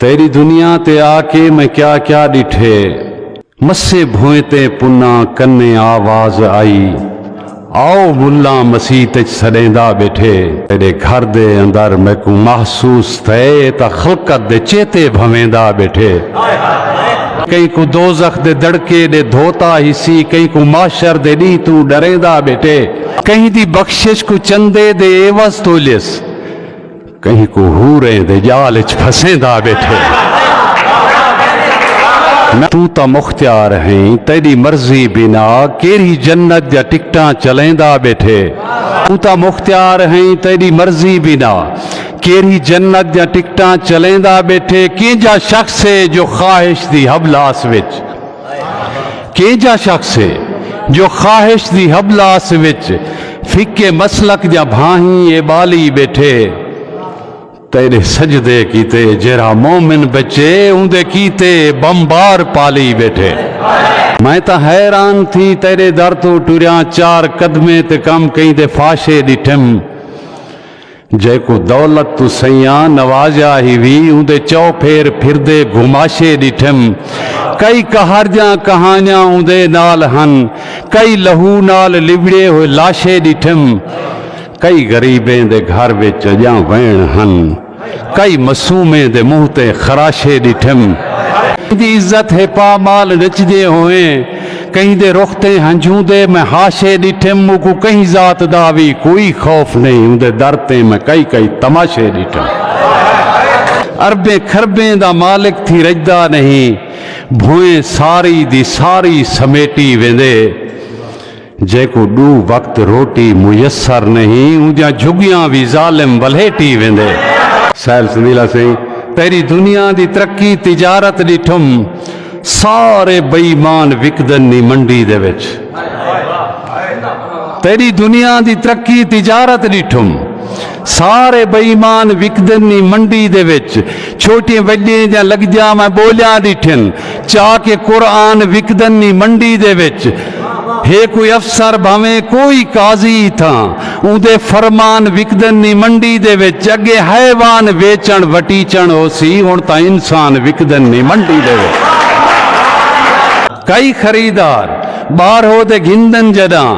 تیݙی دنیا تے آ کے میں کیا کیا ݙٹھے۔ مسیں بھوئیں تے پناں کنے آواز آئی آؤ ملاں مسیت اچ سݙیندا ٻیٹھے۔ تیݙے گھر دے اندر میکوں محسوس تھئے تاں خلقت دے چیتے بھنویندا ٻیٹھے۔ کہیں کوں دوزخ دے دڑکے ݙے دھوتا ہیسی کہیں کوں محشر دے ݙینہہ توں ݙریندا ٻیٹھے۔ کہیں دی بخشش کوں چندے دے عیوض تولئیس کہیں کوں حوریں دے جال اچ پھسیندا ٻیٹھے نہ توں تاں مختیار ہیں تیݙی مرضی بنا کیرھی جنت دیاں ٹکٹاں چلیندا ٻیٹھے توں تاں مختیار ہیں تیݙی مرضی بنا کیرھی جنت دیاں ٹکٹاں چلیندا ٻیٹھے کینجھا شخص ہے جو خواہش دی حبلاس وچ کینجھا شخص ہے جو خواہش دی حبلاس وچ فقے مسلک دیاں بھاہیں ایبالی بیٹھے۔ تیڈے سجدے کیتے جیرھا مومن بچے اوندے کیتے بمبار پالی بیٹھے۔ میں تاں حیران تھی تیڈے در توں ٹریاں چار قدمیں تے کم کئیں دے فاشے ڈٹھم۔ جیکوں دولت توں سیاں نوازیا ہیوی اوندے چو پھیر پھردے گھماشے ڈٹھم۔ کئی کہاڑجاں کہانیاں اوندے نال ہن۔ کئی لہو نال لبڑے ہوئے لاشے ڈٹھم۔ کئی غریبیں دے گھر وچ اجاں وین ہن۔ کئی معصومیں دے منہ تے خراشے ڈٹھم۔ ایندی عزت ہے پا مال نچدے ہوئیں۔ کہیں دے رخ تیں ہنجھوں دے میں حاشے ڈٹھم موکوں کہیں ذات دا وی کوئی خوف نہیں اوندے در تیں میں کئی کئی تماشے ڈٹھم اربیں کھربیں دا مالک تھی رجدا نہیں بھوئیں ساری دی ساری سمیٹی ویندے۔ جیکوں ݙو وقت روٹی میسر نہیں اوندیاں جھگیاں وی ظالم ولھیٹی ویندے۔ سہیل سندیلا سئیں تیری دنیا دی ترقی تجارت ݙٹھم سارے بے ایمان وکدن نی منڈی دے وچ تیری دنیا دی ترقی تجارت ݙٹھم۔ سارے بے ایمان وکدن نی منڈی دے وچ چھوٹیں وڈیں دیاں لگجاں میں بولیاں ڈٹھن چا کہ قرآن وکدن نی منڈی دے وچ ہے کوئی افسر بھاویں کوئی قاضی تھاں اوندے فرمان وکدن نی منڈی دے وچ اگے حیوان ویچن وٹیچن ہوسی ہن تاں انسان وکدن نی منڈی دے وچ کئی خریدار باہرو دے گھندن جڈاں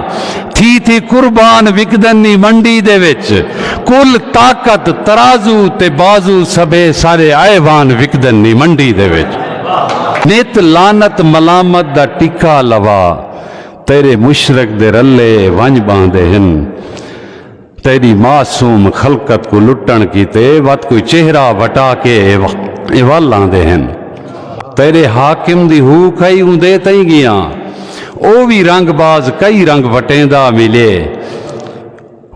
تھی تھی قربان وکدن نی ونڈی دے وچ کل طاقت ترازو تے بازو سبھے سارے آئے وان وکدن نی ونڈی دے وچ نت لعنت ملامت دا ٹکا لوا تیرے مشرک دے رلے ونج باندے ہن۔ تیݙی معصوم خلقت کوں لٹݨ کیتے وت کوئی چہرہ وٹا کے اے ول آندے ہن۔ تیݙے حاکم دی ہو کئی اوندے تئیں ڳیاں۔ او وی رنگ باز کئی رنگ وٹیندا ملے۔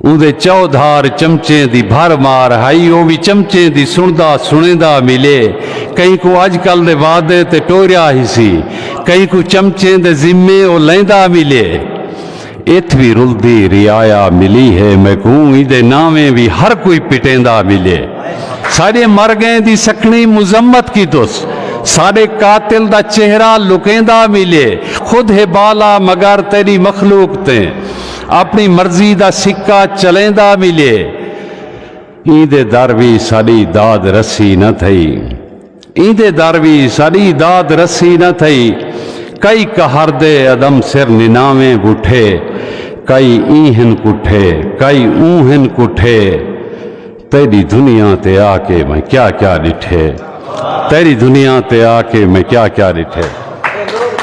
اوندے چودھار چمچیں دی بھر مار ہئی او وی چمچیں دی سݨدا سݨیندا ملے۔ کہیں کوں اڄ کل دے وعدے تے ٹوریا ہیسی۔ کہیں کوں چمچیں دے ذمے او لیندا ملے۔ اتھ وی رلدی رعایا ملی ہے میکوں ایندے ناویں وی ہر کوئی پٹیندا ملے ساڈے مر گئیں دی سکھنی مذمت کیتس ساڈے قاتل دا چہرہ لکیندا ملے خود ہے بالا مگر تیڈی مخلوق تے اپنی مرضی دا سکہ چلیندا ملے ایندے در وی ساڈی داد رسی نہ تھئی۔ ایندے در وی ساݙی داد رسی نہ تھئی کئی قہر دے عدم سر نناویں بٹھے کئی ایں ہن کٹھے کئی اوں ہن کٹھے تیݙی دنیا تے آ کے میں کیا کیا ݙٹھے تیݙی دنیا تے آ کے میں کیا کیا ݙٹھے۔